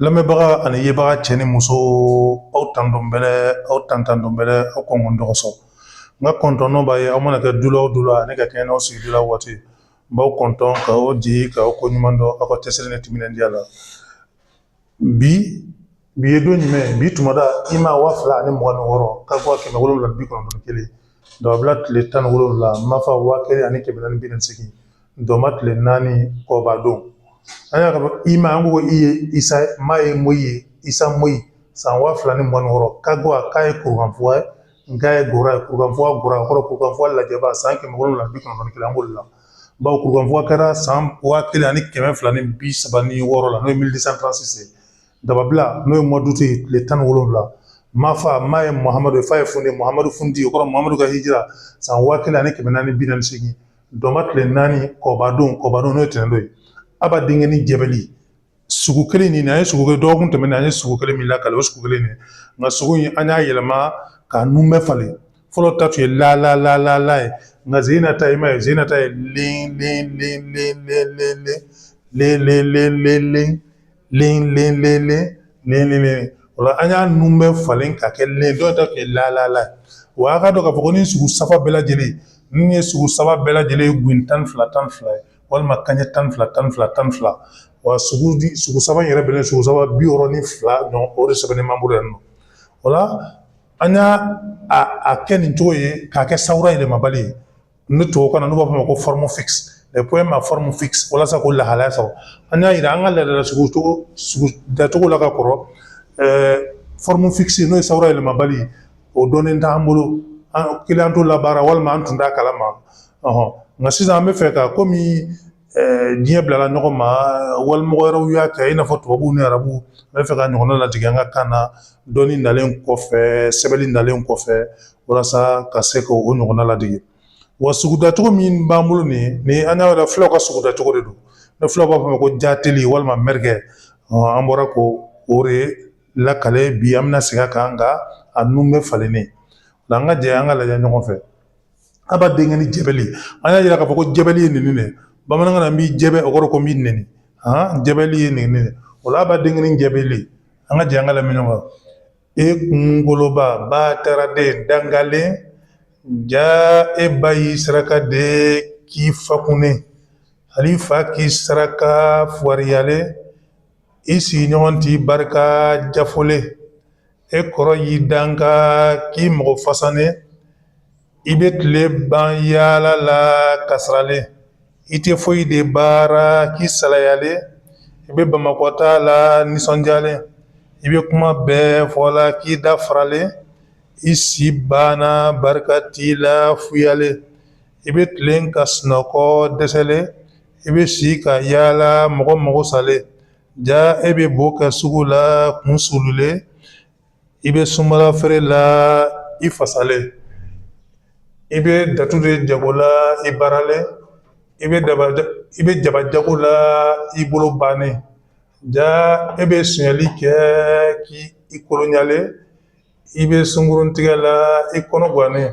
lamɛnbaga ani yebaga cɛ ni muso aw tantɔn bɛ aw tantɔn bɛ aw kɔn dɔgɔtɔrɔsɔ n ka kɔntɔn b'aw ye aw mana kɛ dula o dula ani ka kɛɲɛ n'aw sigi la waati n b'aw kɔntɔn ka o di ka aw ko ɲuman dɔn aw ka cɛsiri ni timinandiya la bi bi ye don jumɛn bi tumada i ma waa fila ani mugan ni wɔɔrɔ ka bɔ kɛmɛ wolonwula bi kɔnɔntɔn kelen dababila tile tan ni wolonwula mafa waa kelen ani kɛmɛ naani bi naani segin dɔnba tile naani kɔba don an y'a fɔ i ma an ko i ye isa ma ye moyi ye isa moyi san waa fila ni mugan ni wɔɔrɔ ka bɔ a ka ye kurukanfuga ye ga ye gora ye kurukanfuga gora kɔrɔ kurukanfuga lajɛba san kɛmɛ wolonwula bi kɔnɔntɔn ni kelen an b'olu la bawo kurukanfuga kɛra san waa kelen ani kɛmɛ fila ni bi saba ni wɔɔrɔ la n'o ye mille deux cent trente-six ye dababila n'o ye mois d'août ye tile tan ni wolonwula mafa ma ye muhamadu fa ye fundi muhamadu fundi o kɔrɔ muhamadu ka hijira san waa kelen ani kɛmɛ naani bi naani segin Dɔnba tile naani kɔba don kɔba don n'o ye tɛnɛndon ye aba denkɛni jɛbɛli sugu kelen nin an ye sugu kelen dɔgɔkun tɛmɛnen an ye sugu kelen min lakali o sugu kelen nin nka sugu in an y'a yɛlɛma k'a nunbɛ falen fɔlɔ ta tun ye la la la la ye nka sen na ta i ma ye sen na ta ye len len len len len len len len len o la an y'a nunbɛ falen ka kɛ len dɔ ta tun ye la ye wa a ka dɔn k'a fɔ ko nin sugu saba bɛɛ lajɛlen nin ye sugu saba bɛɛ lajɛlen ye gun tan ni fila tan ni fila ye walima kanɲɛ tan ni fila tan ni fila tan ni fila wa sugu sugu saba yɛrɛ bɛnnen sugu saba bi wɔɔrɔ ni fila don o de sɛbɛnnen b'an bolo yan nɔ o la an y'a kɛ nin cogo ye k'a kɛ sawura yɛlɛmabali ye ni tubabukan na n'u b'a fɔ o ma ko forme fixe les poèmes à forme fixe walasa k'o lahalaya sɔrɔ an y'a yira an ka laadala sugu cogo sugu dacogo la ka kɔrɔ forme fixe n'o ye sawura yɛlɛmabali o dɔnnen t'an bolo kelen an t'o labaara walima an tun t'a kalama nka sisan an bɛ fɛ ka komi diɲɛ bilala ɲɔgɔn ma walimɔgɔ wɛrɛw y'a kɛ i n'a fɔ tubabuw ni arabuw an bɛ fɛ ka ɲɔgɔn ladege an ka kan na dɔnni nalen kɔfɛ sɛbɛnni nalen kɔfɛ walasa ka se ka o ɲɔgɔnna ladege wa sugudacogo min b'an bolo nin ni an y'a yɛrɛ filaw ka sugudacogo de don ni filaw b'a fɔ ma ko jateli walima mɛrikɛ an bɔra k'o de lakali bi an bɛna segin a kan nka a nunbɛ falennen o la an ka jɛ an ka lajɛ ɲɔgɔn fɛ Aba denkɛni jɛbɛli an y'a yira k'a fɔ ko jɛbɛli ye nin de ye bamanankan na n b'i jɛbɛ o kɔrɔ ko n b'i nɛni jɛbɛli ye nin de ye o la aba denkɛni jɛbɛli an ka jɛ an ka lamɛn ɲɔgɔn kan e kunkoloba bataraden dangalen ja e ba y'i saraka de k'i fa kunne hali fa k'i saraka fugariyalen i sigiɲɔgɔn t'i barika jafɔlen e kɔrɔ y'i danga k'i mɔgɔ fasanen i bɛ tile ban yaala la kasaralen i tɛ foyi de baara k'i salayalen i bɛ bamakɔta la nisɔndiyalen i bɛ kuma bɛɛ fɔ la k'i da faralen i si banna barika t'i la fuyalen i bɛ tilen ka sunɔgɔ dɛsɛlen i bɛ si ka yaala mɔgɔ mago salen ja e bɛ bo kɛ sugu la kun sululen i bɛ sumala feere la i fasalen i bɛ datu de jago la i baaralen i bɛ daba i bɛ jaba jago la i bolo bannen ja e bɛ sonyali kɛ k'i kolonyalen i bɛ sungurun tigɛ la i kɔnɔ gannen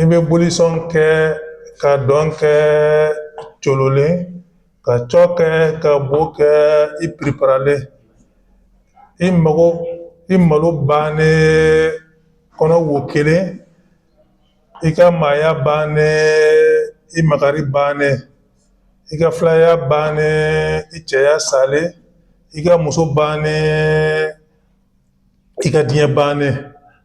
i bɛ bolisɔn kɛ ka dɔn kɛ cololen ka cɔ kɛ ka bo kɛ i piriparalen i mago i malo bannen kɔnɔ wo kelen i ka maaya bannen i makari bannen i ka filaya bannen i cɛya salen i ka muso bannen i ka diɲɛ bannen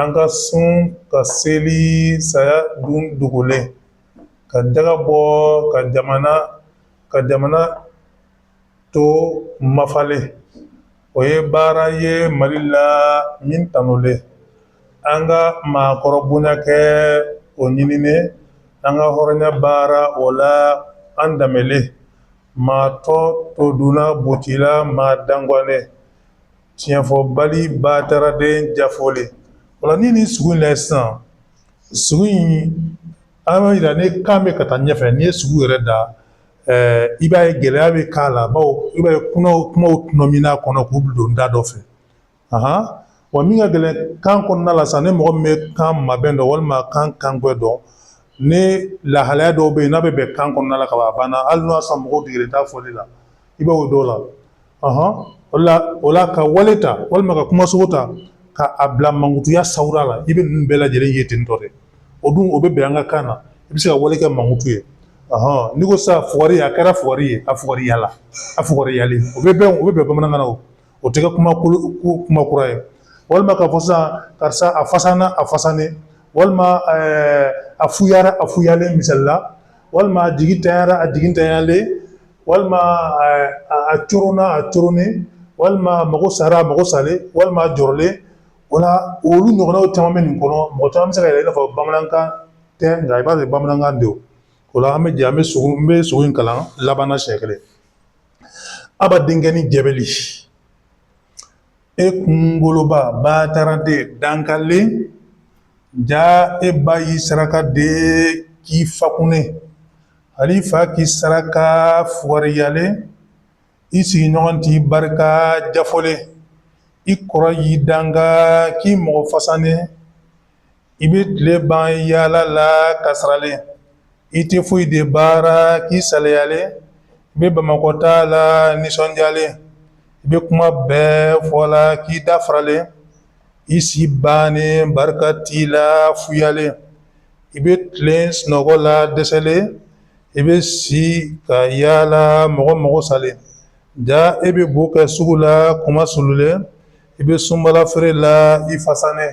an ka sun ka seli saya dun dogolen ka jaka bɔ ka jamana ka jamana to mafalen o ye baara ye mali la min tanulen an ka maakɔrɔ bonya kɛ o ɲininen an ka hɔrɔnya baara o la an danbelen maa tɔ to dunna bocila maa dangalen tiɲɛfɔbali bataraden jafolen o la ni ni sugu in la sisan sugu in an b'a jira ni kan bɛ ka taa ɲɛfɛ n'i ye sugu yɛrɛ da i b'a ye gɛlɛya bɛ k'a la bawo i b'a ye kumaw kumaw tɔnɔmin'a kɔnɔ k'u don da dɔ fɛ wa min ka gɛlɛn kan kɔnɔna la sisan ni mɔgɔ min bɛ kan mabɛn dɔn walima kan kangbɛ dɔn ni lahalaya dɔw bɛ yen n'a bɛ bɛn kan kɔnɔna la ka ban a banna hali n'a sɔrɔ mɔgɔw degelen t'a fɔli la i b'o dɔw la o la o la ka wale ta walima ka kumasogo ta ka a bila mankutuya sawura la i bɛ ninnu bɛɛ lajɛlen ye ten tɔ de o dun o bɛ bɛn an ka kan na i bɛ se ka wale kɛ mankutu ye n'i ko sisan fugari a kɛra fugari ye a fugariyala a fugariyalen o bɛ bɛn o bɛ bɛn bamanankan na o o tɛ kɛ kuma kuma kura ye walima k'a fɔ sisan karisa a fasanna a fasanen walima a fuyara a fuyalen misali la walima a jigi tanyara a jigi tanyalen walima a coronna a coronnen walima mago sara mago salen walima a jɔrɔlen o la olu ɲɔgɔnnaw caman bɛ nin kɔnɔ mɔgɔ caman bɛ se ka yɛlɛ i n'a fɔ bamanankan tɛ nka i b'a ye bamanankan don o la an bɛ jɛ an bɛ sugu n bɛ sugu in kalan laban na siɲɛ kelen a b'a denkɛnin jɛbɛli e kunkoloba bataraden dangalen ja e ba y'i saraka de k'i fa kunnɛ hal'i fa k'i saraka fugariyalen i sigiɲɔgɔn t'i barika jafɔlen i kɔrɔ y'i danga k'i mɔgɔ fasanen i bɛ tile ban yaala la kasaralen i tɛ foyi de baara k'i saliyalen i bɛ bamakɔta la nisɔndiyalen i bɛ kuma bɛɛ fɔ la k'i da faralen i si bannen barika t'i la fuyalen i bɛ tilen sunɔgɔ la dɛsɛlen i bɛ si ka yaala mɔgɔ mɔgɔ salen ja e bɛ bo kɛ sugu la kuma sululen i bɛ sunbala feere la i fasanen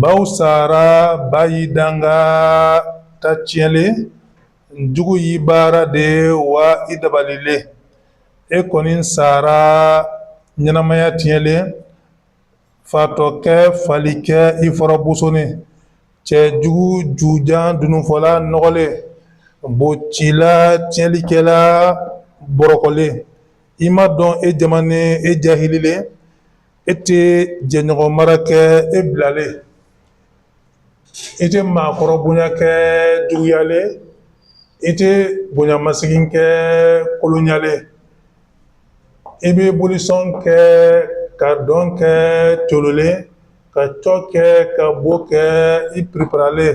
Baw sara ba y'i danga ta tiɲɛlen jugu y'i baara de wa i dabalilen e kɔni sara ɲɛnamaya tiɲɛlen fatɔkɛ falikɛ i fɔrɔ bosonnen cɛjugu jujan dununfɔla nɔgɔlen bocila tiɲɛlikɛla bɔrɔkɔlen i ma dɔn e jamanen e jahililen e tɛ jɛɲɔgɔn mara kɛ e bilalen e tɛ maakɔrɔ bonya kɛ juguyalen e tɛ bonyamasegin kɛ kolonyalen e bɛ bolisɔn kɛ ka dɔn kɛ tololen ka cɔ kɛ ka bo kɛ i periparalen